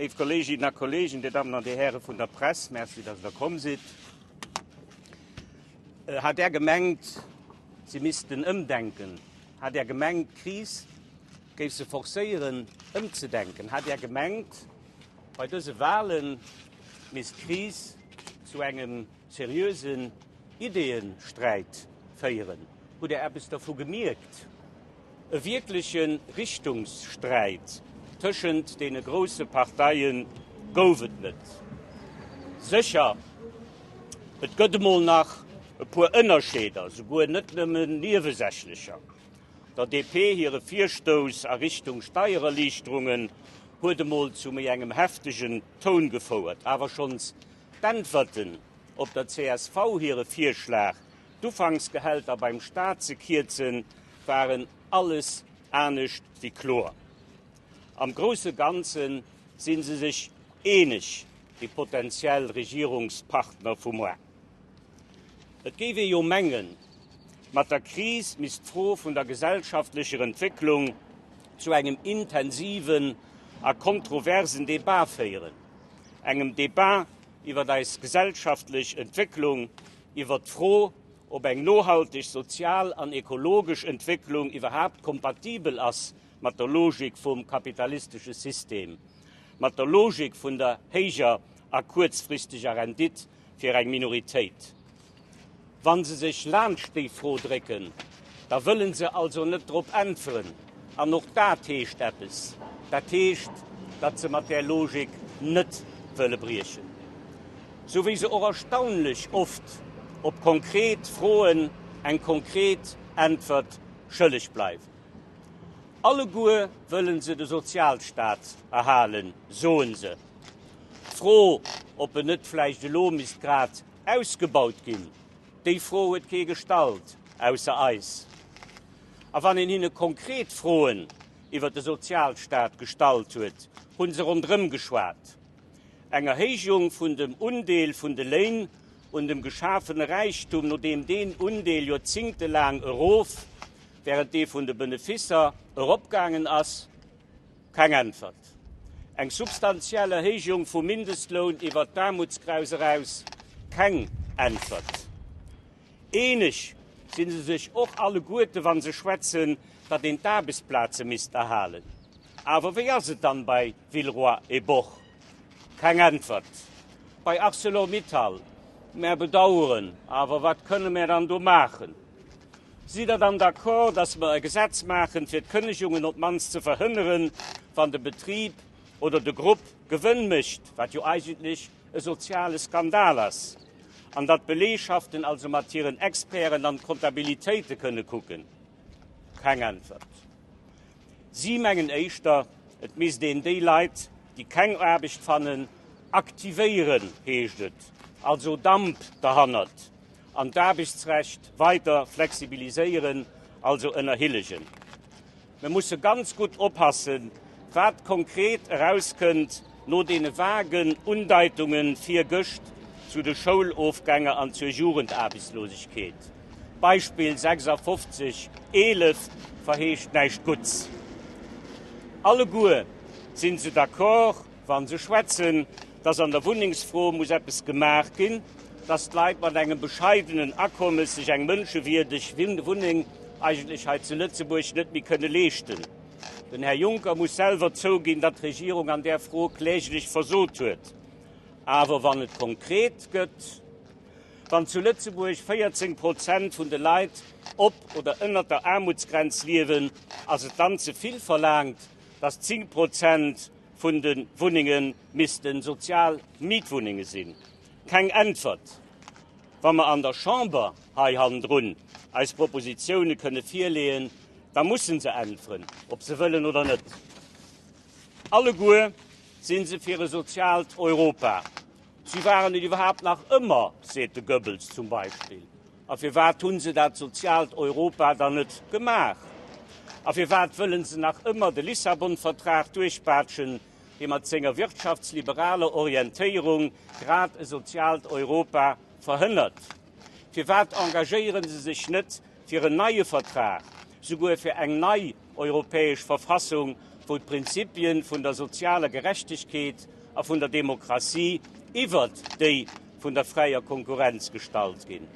Léif Kolleginnen a Kollegen, Dir Dammen an Dir Häre vun der Press, Merci, dass Der komm sidd. Äh, hat Där gemengt, si missten ëmdenken? Hat Där gemengt, d'Kris géif se forcéieren, ëmzedenken? Hat Där gemengt, bei dëse Wahlen misst d'Kris zu engem Seriösen Ideeënsträit féieren. Hutt Dir eppes dervu gemierkt? E wierkleche Richtungssträit tëschent deene grousse Parteie gouf et net. Sécher, et gëtt emol nach e puer Ënnerscheeder, souguer net nëmmen niewesächlecher. Der DP hire Virstouss a Richtung Steiererliichterungen huet emol zu méi engem heftegen Toun gefouert. Awer schonns D'Äntwerten op der csv hire Virschlag, d'Ufanksgehälter beim Staat ze kierzen, waren alles anescht wéi kloer. Am grousse Ganze si se sech eeneg, déi potentiell Regierungspartner vu muer. Et géif ee jo mengen, mat der Kris misst d'Fro vun der gesellschaftlecher Entwécklung zu engem intensiven a kontroversen Debat féieren. engem Debat iwwer eis gesellschaftlech Entwécklung, iwwer d'Fro, ob eng nohalteg sozial an ekologesch Entwécklung iwwerhaapt kompatibel ass mat der Logik vum kapitalistesche System, mat der Logik vun der héijer a kuerzfristeger Rendite. fir eng Minoritéit. Wa se sech laanscht déi Fro drécken, da wëlle se also net drop äntweren. An och dat heescht eppes. Dat heescht, datt se mat där Logik net wëlle briechen. Sou wéi se och erstaunlech oft op konkret Froen eng konkret Äntwert schëlleg bleiwen. Alleguer wëlle se de Sozialstaat erhalen, soe se. D'Fro, ob en net vläicht elo misst grad ausgebaut ginn, déi Fro huet kee gestallt, ausser eis. A wann een hinne konkret Froen iwwer de Sozialstaat gestallt huet, hu se ronderëm geschwat. Eng Erhéijung vun dem Undeel vun de Léin un dem geschafene Räichtum, nodeem deen Undeel joerzingtelaang erof, wärend dee vun de Beneficer eropgaangen ass, Keng Äntwert. Eng substantiell Erhéijung vum Mindestloun iwwert d'Aarmutsgrenz eraus? Keng Äntwert. Eeneg si se sech och alleguerte wa se schwätzen, datt een d'Aarbechtsplaze misst erhalen. Awer wéi ass et dann bei Villeroy et Boch? Keng Äntwert. Bei Arcelor Mittal? Mär bedaueren, awer wat kënne mär dann do maachen? Sidd Der dann d'accord, dass mer e Gesetz maachen, fir d'Kënnegungen op d'mannst ze verhënneren, wann de Betrib oder de Grupp Gewënn mécht, wat jo eigentlech e soziale Skandal ass, an datt d'Belegschaften also mat hiren Experten an d'Kontabilitéite kënne kucken? Keng Äntwert. Si mengen éischter, et misst een déi Leit, déi keng Aarbecht fannen, aktivéieren, heescht et. Also Damp derhannert. an d'Aarbechtsrecht weider flexibiliséieren, also ënnerhillegen. Mir musse ganz gutt oppassen, wat konkret erauskënnt no deene vagen Undeitunge virgëscht zu de Schoulofgänger an zur Jugendaarbechtslosegkeet. D'Beispill 56, 11 verheescht näischt Gutts. Alleguer si se d'accord, Wa se schwätzen, dass an der Wunnengsfro muss eppes gemaach ginn, dass d'Leit mat engem bescheidenen Akommes sech eng mënschewierdeg Wunneng eigentlech hei zu Lëtzebuerg net méi kënne leeschten. Den Här Juncker muss selwer zouginn, datt d'Regierung an där Fro kläglech versot huet. Awer wann et konkret gëtt, wann zu Lëtzebuerg 14 Prozent vun de Leit op oder ënnert der Aarmutsgrenz liewen, ass et dann ze vill verlaangt, dass 10 Prozent vun de Wunnenge misste sozial Mietwunnenge sinn. Keng Äntwert, Wa mer an der Chamber hei hannendrun eis Propositioune kënne virleeën, da musse se äntweren, ob se wëllen oder net. Alleguer si se fir e soziaalt Europa. Si waren et iwwerhaapt nach ëmmer, seet de Goebbels zum Beispill. A firwat hunn se dat soziaalt Europa dann net gemaach? A firwat wëllen se nach ëmmer de Lissabon-Vertrag duerchpaatschen, dee mat senger wirtschaftsliberaler Orientéierung grad e soziaalt Europa verhënnert? Firwat engagéiere se sech net fir en neie Vertrag, souguer fir eng nei europäesch Verfassung, wou d'Prinzipien vun der sozialer Gerechtegkeet a vun der Demokratie iwwert déi vun der fräier Konkurrenz gestallt ginn.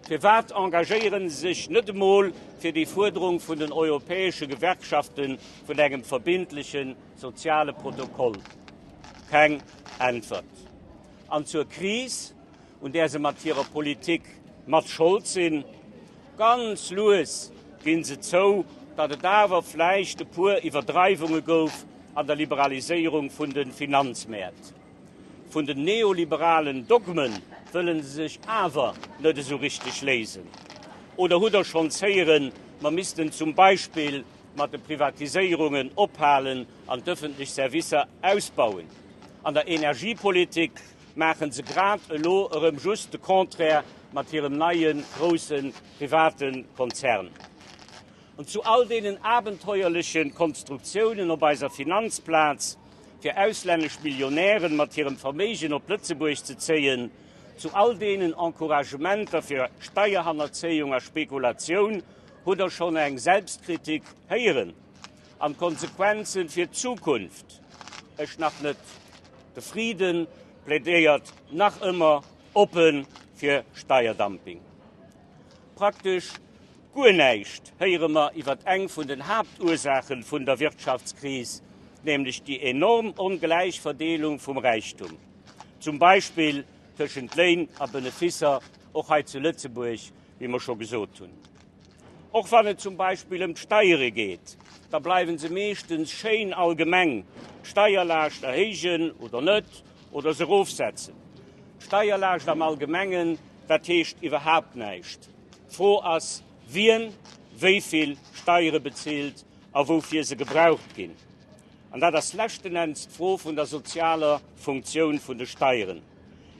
Firwat engagéiere se sech net emol fir déi Fuerderung vun den europäesche Gewerkschafte vun engem verbindleche soziale Protokoll? Keng Äntwert. An zur Kris, un där se mat hirer Politik mat Schold sinn, ganz lues ginn se zou, datt et awer vläicht e puer Iwwerdreiwunge gouf an der Liberaliséierung vun de Finanzmäert. Vun den neoliberalen Dogme wëlle se sech awer net esou richteg léisen. Oder hutt Der schonns héieren, mer missten zum Beispill mat de Privatiséierungen ophalen an d'ëffentlech Servicer ausbauen? An der Energiepolitik maachen se grad elo erëm just de Contraire mat hirem neie grousse private Konzern. An zu all deenen abenteuerleche Konstruktiounen op eiser Finanzplaz, fir auslännesch Millionären mat hirem Verméigen op Lëtzebuerg ze zéien, zu all deenen Encouragementer fir Steierhannerzéiung a Spekulatioun, hutt Der schonn eng Selbstkritik héieren? An d'Konsequenzen fir d'Zukunft? Ech nach net. De Frieden plädéiert nach ëmmer oppen fir Steierdumping. Praktesch guer näischt héiere mer iwwert eng vun den Haaptursaachen vun der Wirtschaftskris, nämlech déi enorm ongläich Verdeelung vum Räichtum, zum Beispill tëschent Léin a Beneficer, och hei zu Lëtzebuerg, wéi mer scho gesot hunn. Och wann et zum Beispill ëm d'Steiere geet, da bleiwe se meeschtens schéin allgemeng, d'Steierlaascht erhéijen oder net, oder se erofsetzen. D'Steierlaascht am Allgemengen, dat heescht iwwerhaapt näischt. D'Fro ass, wien wéi vill Steiere bezilt a woufir se gebraucht ginn. An dat ass leschten Enns d'Fro vun der sozialer Funktioun vun de Steieren.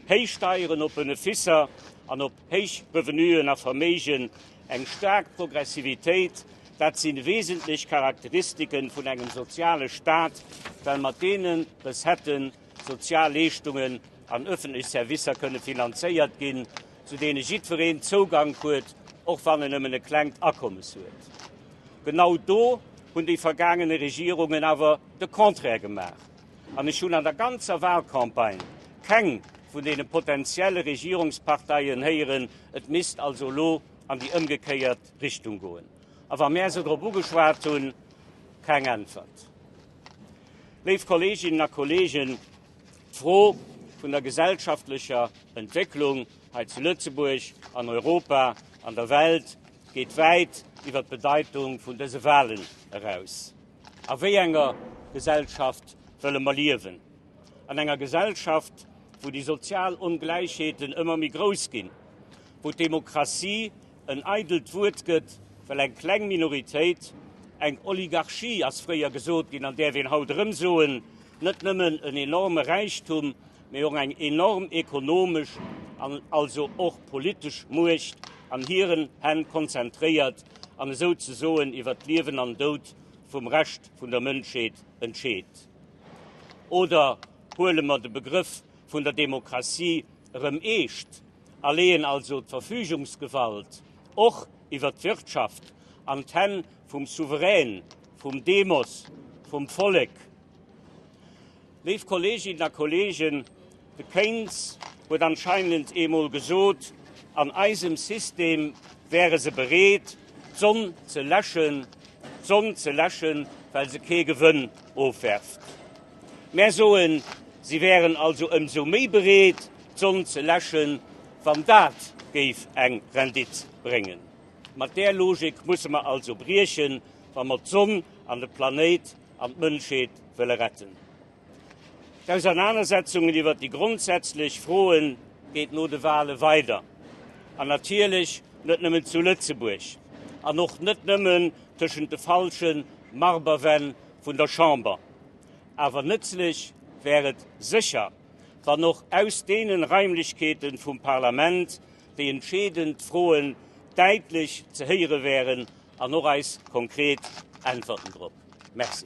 Héich Steieren op Beneficer an op Héich Revenuen a Verméigen, eng staark Progressivitéit, dat si wesentlech Charakteristike vun engem soziale Staat, well mat deene Recetten sozial Leeschtungen an ëffentlech Servicer kënne finanzéiert ginn, zu deene jiddwereen Zougank huet, och wann en nëmmen e klengt Akommes huet. Genau do hunn déi vergaangene Regierungen awer de Contraire gemaach. An ech hunn an der ganzer Wahlcampagne keng vun deene potentielle Regierungsparteien héieren, et misst also elo an déi ëmgekéiert Richtung goen. A wa mär se drop ugeschwat hunn, keng Äntwert. Léif Kolleeginnen a Kolleegen, d'Fro vun der gesellschaftlecher Entwécklung hei zu Lëtzebuerg, an Europa, an der Welt geet wäit iwwer d'Bedeitung vun dëse Wahlen eraus. A wéi enger Gesellschaft wëlle mer liewen? An enger Gesellschaft, wou déi sozial Ongläichheeten ëmmer méi grouss ginn, wou d'Demokratie en eidelt Wuert gëtt, well eng kleng Minoritéit, eng Oligarchie ass fréier gesot ginn an däerf een haut erëm soen, net nëmmen en enorme Räichtum, mee och eng enorm ekonomesch an also och politesch Muecht an hiren Hänn konzentréiert an esou ze soen iwwer d'Liewen an Doud vum Rescht vun der Mënschheet entscheet. Oder huele mer de Begrëff vun der Demokratie erëm eescht a leeën also d'Verfügungsgewalt och iwwer d'Wirtschaft an d'Hänn vum Souverän, vum Demos, vum Vollek. Léif Kolleeginnen a Kolleegen, de Keynes huet anscheinend eemol gesot, an eisem System wäre se bereet, d'Sonn ze läschen, d'Sonn ze läschen, well se kee Gewënn ofwerft. Mär soen, si wären also ëmsou méi bereet, d'Sonn ze läschen, wann dat géif eng Rendite bréngen. Mat där Logik musse mer also briechen, wa mer d'Sonn an de Planéit an d'Mënschheet wëlle retten. D'Ausernanersetzungen iwwer déi grondsätzlech Froe geet no de Wahle weider, an natierlech net nëmmen zu Lëtzebuerg, an och net nëmmen tëschent de falsche Marberwänn vun der Chamber. Awer nëtzlech wär et sécher, wann och aus deene Raimlechkeete vum Parlament déi entscheedend Froen däitlech ze héiere wären An och eis konkret Äntwerten drop. Merci.